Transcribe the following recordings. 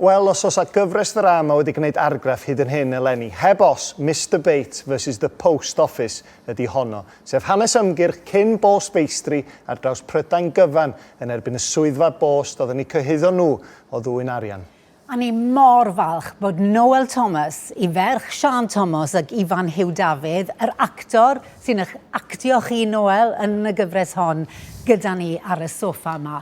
Wel, os oes a gyfres ddrama wedi gwneud argraff hyd yn hyn eleni, heb os, Mister Bates versus The Post Office ydi honno, sef hanes ymgyrch cyn bost feistri ar draws Prydain gyfan yn erbyn y swyddfa bost oedd yn eu cyhuddo nhw o ddwyn arian. A ni mor falch bod Noel Thomas, i ferch Siân Tomos ac Ifan Huw Dafydd, yr actor sy'n eich actio chi, Noel, yn y gyfres hon, gyda ni ar y soffa 'ma.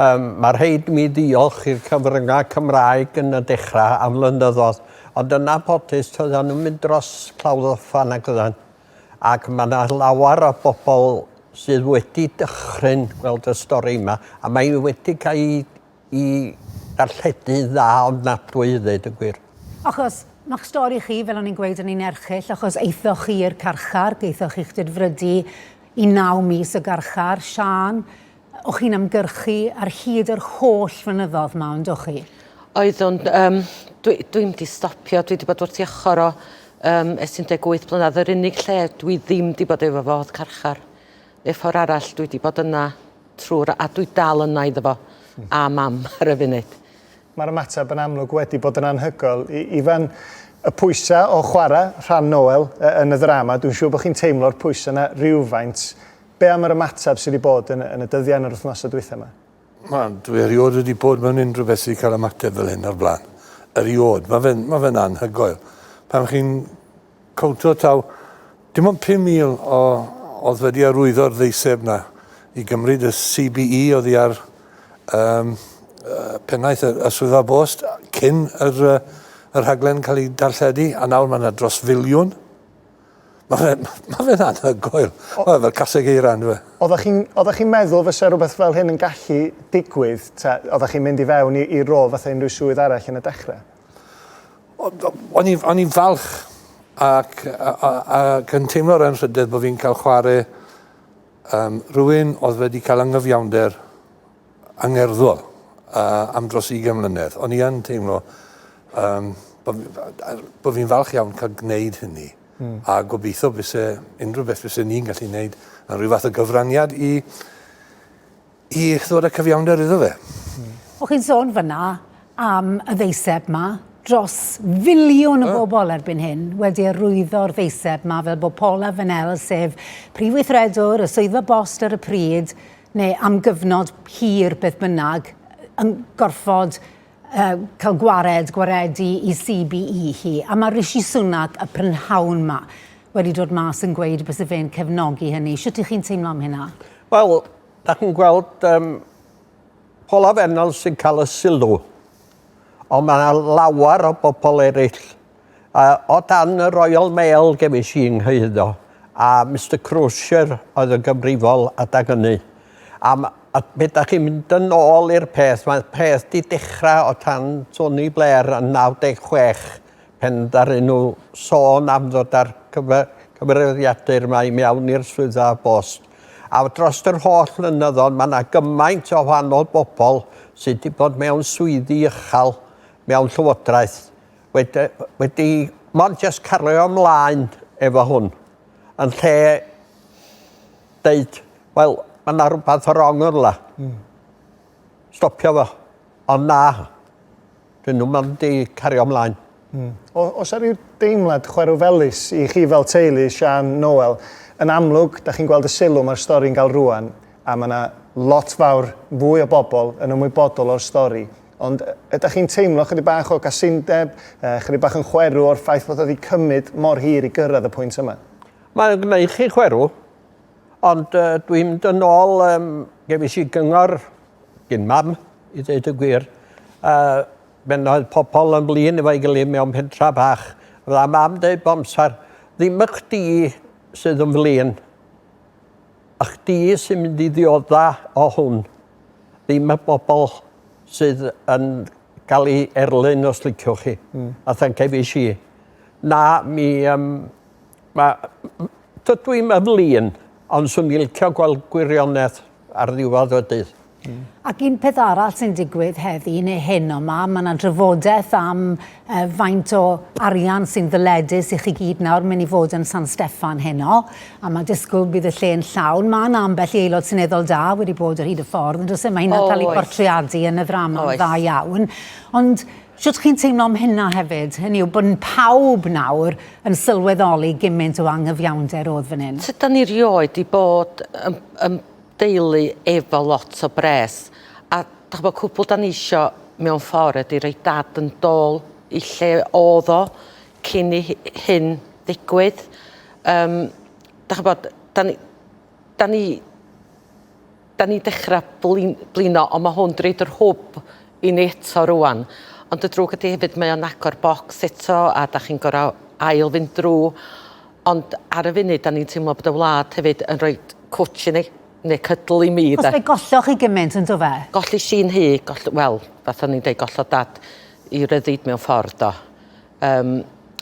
Yym, mae rhaid i mi ddiolch i'r cyfryngau Cymraeg yn y dechrau am flynyddoedd, ond yn anffodus toeddan nhw'n mynd dros Clawdd Ofan ac oeddan. Ac mae yna lawer o bobl sydd wedi dychryn gweld y stori yma, a mae wedi cael ei, ei darlledu'n dda ofnadwy i ddweud y gwir. Achos mae'ch stori chi, fel o'n i'n gweud, yn un erchyll, achos eithoch chi i'r carchar, geithoch chi'ch dedfrydu i naw mis y garchar, Siân, O'ch chi'n ymgyrchu ar hyd yr holl flynyddodd 'ma, ondoch chi? Oeddwn. Yym, dwi, dwi'm wedi stopio. Dwi wedi bod wrth ei ochr o um, ers 18 blynedd. Yr unig lle dwi ddim wedi bod efo fo oedd carchar. Neu ffordd arall, dwi wedi bod yna trwy'r... A dwi dal yna iddo fo. Hmm. A mam ar y funud. Mae'r ymateb yn amlwg wedi bod yn anhygoel. I, Ifan, y pwysau o chwarae rhan Noel yn y ddrama, dwi'n siŵr bod chi'n teimlo'r pwysau yna rhywfaint Be am yr ymateb sydd wedi bod yn, yn y dyddiau yn yr wythnosau dwytha yma? Wel, dwi erioed wedi bod mewn unrhyw beth sydd wedi cael ymateb fel hyn o'r blaen. Erioed. Mae fe'n ma fe anhygoel. Pan chi'n cowntio taw dim ond 5,000 o oedd wedi arwyddo'r ddeiseb na i gymryd y CBE oedd i ar um, uh, pennaeth y, y swyddfa bost cyn yr, uh, yr haglen cael ei darlledu, a nawr mae yna dros filiwn. Mae fe, mae fe'n anhygoel. Mae fe fel caseg eira yn dweud. Oeddech chi'n oeddech chi'n meddwl fysa rhywbeth fel hyn yn gallu digwydd? Ta, oeddech chi'n mynd i fewn i, i rôl fatha unrhyw swydd arall yn y dechrau? O'n i'n o'n i'n falch ac, ac yn teimlo'r anrhydedd bod fi'n cael chwarae um, rhywun oedd wedi cael angyfiawnder angerddol uh, am dros 20 mlynedd. O'n i yn teimlo um, bod, bod fi'n falch iawn cael gwneud hynny. Mm. A gobeithio fyse unrhyw beth fyse ni'n gallu gwneud yn rhyw fath o gyfraniad i, i ddod â cyfiawnder iddo fe. Mm. O'ch chi'n sôn fyna am y ddeiseb ma, dros filiwn o bobl erbyn hyn wedi arwyddo'r ddeiseb ma fel bod Paula Fennell, sef prif weithredwr y swyddfa bost ar y pryd, neu am gyfnod hir beth bynnag, yn gorfod uh, cael gwared, gwaredu i CBE hi. A mae Rishi Sunak, y prynhawn yma, wedi dod mas yn gweud bys y fe'n cefnogi hynny. Sut ych chi'n teimlo am hynna? Wel, da chi'n gweld um, Paul Fennel sy'n cael y sylw. Ond mae yna lawer o bobl eraill A o dan y Royal Mail gefais i 'y nghyhuddo, a Mister Crosier oedd yn gyfrifol adag ynny. Am, a be' 'dach chi'n mynd yn ôl i'r peth, mae'r peth 'di dechra o tan Tony Blair yn 96 pen ddaru nhw sôn am ddod â'r cyfe- cyfrifiadur 'ma i mewn i'r swyddfa bost. A drost yr holl flynyddodd ma' 'na gymaint o wahanol bobl sy' 'di bod mewn swyddi ychal mewn llywodraeth wedi, wedi mond jyst cario ymlaen efo hwn, yn lle deud, wel, mae yna rhywbeth o rong yn la. Mm. Stopio fo. Ond na, dyn nhw'n mynd i cario ymlaen. Mm. O, os ar ryw deimlad chwerw felus i chi fel teulu, Sian, Noel, yn amlwg, da chi'n gweld y sylw mae'r stori'n gael rwan, a mae yna lot fawr fwy o bobl yn ymwybodol o'r stori Ond ydach chi'n teimlo chydig bach o gasundeb, chydig bach yn chwerw o'r ffaith fod o wedi cymryd mor hir i gyrraedd y pwynt yma? Mae'n gwneud chi chwerw, ond uh, dwi'n mynd yn ôl, um, gefis i gyngor gyn mam, i ddeud y gwir, a ben oedd pobl yn flin efo'i gilydd mewn pentra bach. Fydda mam dweud bomsar, ddim y chdi sydd yn flin, A chdi sy'n mynd i ddiodda o hwn, ddim y bobl sydd yn cael ei erlyn os liciwch chi, mm. a thancefish i. Na, mi, um, ma, dydw i'n ymlun, ond swn i'n licio gweld gwirionedd ar ddiwedd y dydd. Mm. Ac un peth arall sy'n digwydd heddi neu hyn yma, mae yna drafodaeth am uh, faint o arian sy'n ddyledus i chi gyd nawr mynd i fod yn San Steffan heno, a mae disgwyl bydd y lle'n llawn. Mae yna ambell i aelod seneddol da wedi bod ar hyd y ffordd, ond os yma hynna'n cael ei portreadu yn y ddrama yn dda iawn. Ond Sut chi'n teimlo am hynna hefyd? Hynny yw bod pawb nawr yn sylweddoli gymaint o angyfiawnder oedd fan hyn. Sut da ni rioed i bod yn, yn deulu efo lot o bres a dach ch'bo' cwpwl 'dan ni isio mewn ffor ydi roi dad yn dôl i lle o'dd o cyn i hi- hyn ddigwydd yym dach ch'bod 'dan ni 'dan ni 'dan ni'n dechra blin- blino on' ma' hwn 'di roid yr hwb i ni eto rŵan. Ond y drwg ydi hefyd mae o'n agor bocs eto a 'dach chi'n gor'o' ail fynd drw'. Ond ar y funud 'dan ni'n teimlo bod y wlad hefyd yn rhoi cwtsh i ni, ne' cydl i mi 'de. Achos fe golloch chi gymint on'd do fe? Gollish i 'nhŷ, goll- wel, fath o'n i'n deud gollodd dad 'i ryddid mewn ffordd do. Yym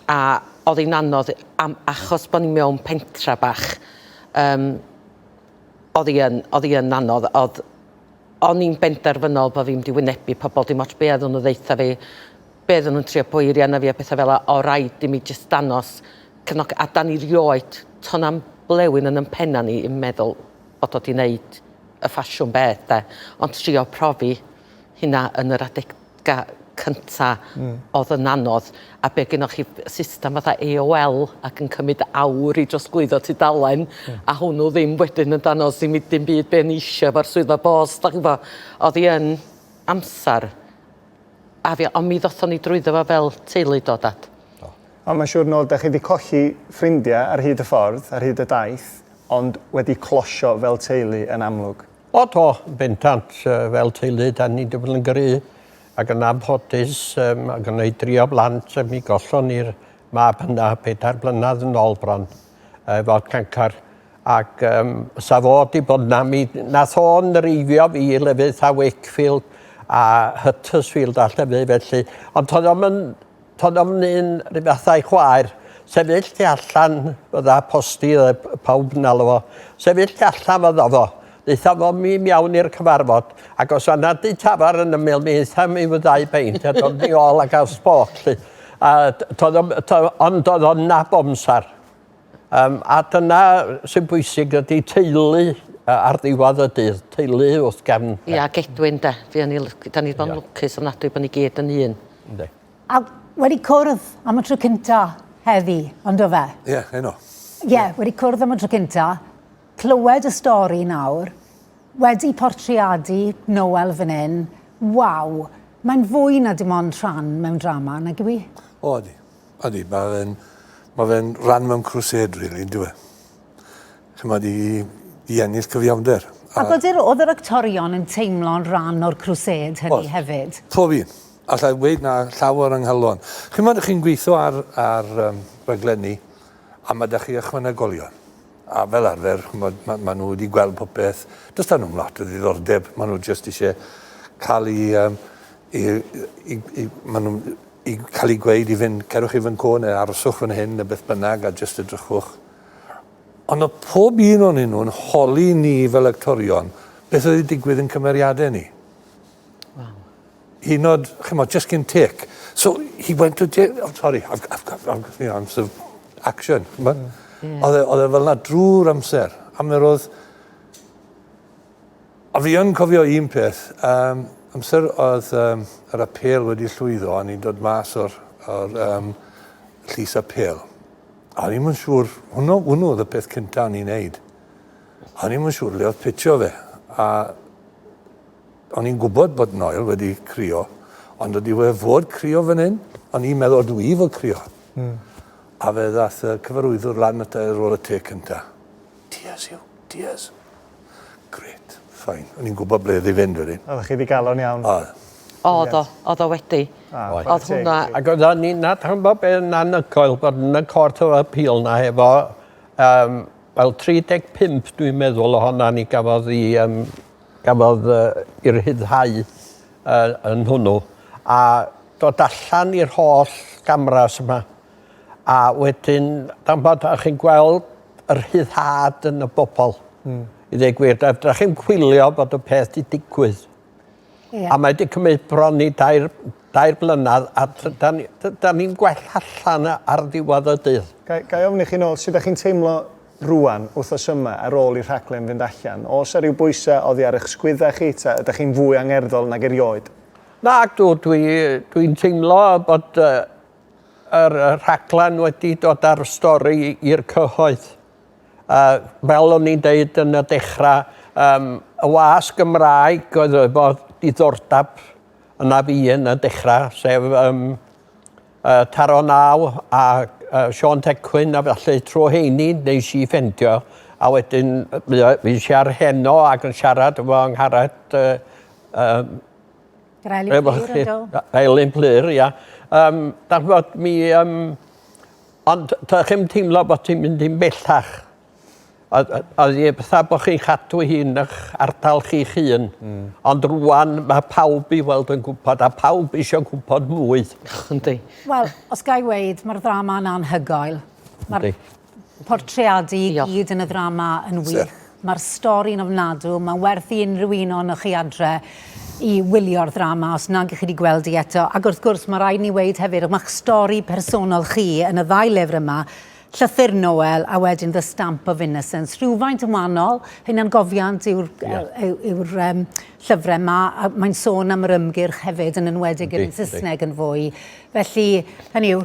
a o'dd 'i'n anodd am achos bo' ni mewn pentra bach yym o'dd 'i yn o'dd 'i yn anodd o'dd O'n i'n benderfynol bo' fi'n mynd i wynebu pobl, dim ots be' oeddwn nhw'n ddeutha fi, be' oeddwn nhw'n trio poeri arna fi a petha fela, o' raid i mi jyst danos cefnogaeth. A 'dan ni rioed, to' 'na'm blewyn yn 'yn penna ni yn meddwl bod o 'di neud y ffasiwn beth 'de, ond trio profi hynna yn yr adeg ga cynta odd yn anodd a be gynnoch chi system fatha AOL ac yn cymyd awr i drosglwyddo tudalen a hwnnw ddim wedyn yn danos i mi dim byd be o'n i isio efo'r swyddfa bost dach ch'bo' odd 'i yn amsar a fi on' mi ddothon ni drwyddo fo fel teulu do dad? Do. On' ma' siŵr nôl 'dach chi 'di colli ffrindia ar hyd y ffordd ar hyd y daith ond wedi closio fel teulu yn amlwg. O do, yn bendant. Yy fel teulu 'dan ni 'di bod yn gry ac yn anffodus yym ma' gynnai dri o blant a mi gollon ni'r mab hynna pedair blynadd yn ôl bron yy efo cancar ac yym sa fo 'di bod 'na mi nath o nreifio fi i lefydd 'tha Wakefield a Huttersfield a llefydd felly ond to'dd o'm yn Tod ofn un ry fath a'i chwaer. Sefyll tu allan fydda posti y pawb yn alw fo. Sefyll tu allan fydda fo. Ddaetha fo mi miawn i'r cyfarfod, ac os oedd na dŷ tafar yn ymyl mi aetha mi fyddau beint, a dod ni ôl ac aws boc, lly. A tod ofn, ond oedd o'n nab omsar. Um, a dyna sy'n bwysig ydy teulu ar ddiwedd y dydd, teulu wrth gefn. Ia, yeah, gedwyn de. Fi o'n i, da ni bod yn lwcus o'n adwy bod ni gyd yn un. Ynddi. A wedi cwrdd am y tro cynta heddi, ond o fe? Ie, yeah, heno. Ie, yeah, wedi cwrdd am y tro cynta, clywed y stori nawr, wedi portreadu Noel fan hyn, waw, mae'n fwy na dim ond rhan mewn drama, nag yw i? O, ydi. Ydy, mae fe'n ma fe rhan mewn crusade, really, yn dweud. Chymod, i, i ennill cyfiawnder. A, a bod yr, oedd yr actorion yn teimlo'n rhan o'r crusade hynny oedd, hefyd? Pob un. Alla i weid na llawer yng nghalon. Chymod, chi'n gweithio ar, ar um, raglenni, a mae da chi ychwanegolion. A fel arfer, chymod, mae ma nhw wedi gweld popeth. Does da nhw'n lot o ddiddordeb. Mae nhw jyst eisiau cael ei... Um, i, i, i, maen nhw i cael ei gweud i fynd, cerwch i Fynco neu aroswch fan hyn neu beth bynnag a jyst edrychwch. Ond o pob un o'n nhw yn holi ni fel actorion beth oedd wedi digwydd yn cymeriadau ni. Wow. Hyd yn oed, chymod, just cyn tec. So he went to jail. Oh, sorry, I've, I've, I've, I've, you know, I'm sort of action. Mm. Yeah. Oedd e, e fel na drwy'r amser. A mi roedd A fi yn cofio un peth, um, amser oedd um, yr apel wedi llwyddo a ni'n dod mas o'r, or, um, llys apel. A ni'n mynd siŵr, hwnnw, hwnnw oedd y peth cyntaf ni'n neud. A ni'n mynd siŵr le oedd pitio fe. A o'n i'n gwybod bod Noel wedi crio, ond oedd wedi fod crio fan hyn, ond i'n meddwl dwi i fod crio. Mm. A fe ddath y cyfarwyddwr lan at ar ôl y te cynta. Diaz yw, Diaz. Grêt. Fine. O'n i'n gwybod ble oedd i fynd wedyn. Oeddech chi ddigalon iawn. Oedd. Oedd o. Oedd o wedi. Oedd. Oedd hwnna... Ac oedden ni'n adnabod be yn anhygoel bod yn y Court of Appeal na efo um, wel 35 dwi'n meddwl ohona ni gafodd i um, gafodd uh, i rhyddhau uh, yn hwnnw a dod allan i'r holl gamras yma a wedyn dan bod chi'n gweld rhyddhad yn y bobl. Mm. I ddweud gwir, da, da chi'n chwilio bod y peth di digwydd. Yeah. A mae wedi cymryd bron i dair, dair blynedd a da ni'n ni, da ni gwell allan ar ddiwedd y dydd. Ga, ga i ofyn i chi'n ôl, sut ydych chi'n teimlo rwan, wythnos yma, ar ôl i'r rhaglen fynd allan? Os ar ryw bwysau oddi ar eich sgwydda chi, ta ydych chi'n fwy angerddol nag erioed? Na, dw, dwi'n dwi teimlo bod uh, Yr rhaglen wedi dod â'r stori i'r cyhoedd. Yy fel o'n i'n deud yn y dechra yym y wasg Gymraeg oedd efo diddordab yna fi yn y dechra sef yym yy Taro Naw a yy Siôn Tecwyn a felly trw rheini neis i ffendio a wedyn yy fuo- fuesh i ar Heno ac yn siarad efo Angharad yy yym Gael ei blir yn do. Gael ei blir, ia. Um, da fod mi... Um, ond da chi'n teimlo bod ti'n mynd i'n bellach. Oedd i fatha bod chi'n cadw hi'n eich ardal chi'ch hun. Mm. Ond rwan mae pawb i weld yn gwybod a pawb eisiau gwybod mwy. Yndi. Wel, os ga i weid, mae'r ddrama yna anhygoel. Mae'r portreadu i gyd yn y ddrama yn wych. Mae'r stori'n ofnadw, mae'n werth i unrhyw un ohonoch chi adre i wylio'r ddrama os nag ych chi wedi gweld hi eto. Ac wrth gwrs, mae rhaid ni weud hefyd, mae'ch stori personol chi yn y ddau lyfr yma, Llythyr Noel a wedyn The Stamp of Innocence, rhywfaint yn wahanol, hunangofiant yw'r yeah. yw, yw um, llyfrau yma, a mae'n sôn am yr ymgyrch hefyd, yn enwedig yn Saesneg yn fwy. Felly, hynny yw,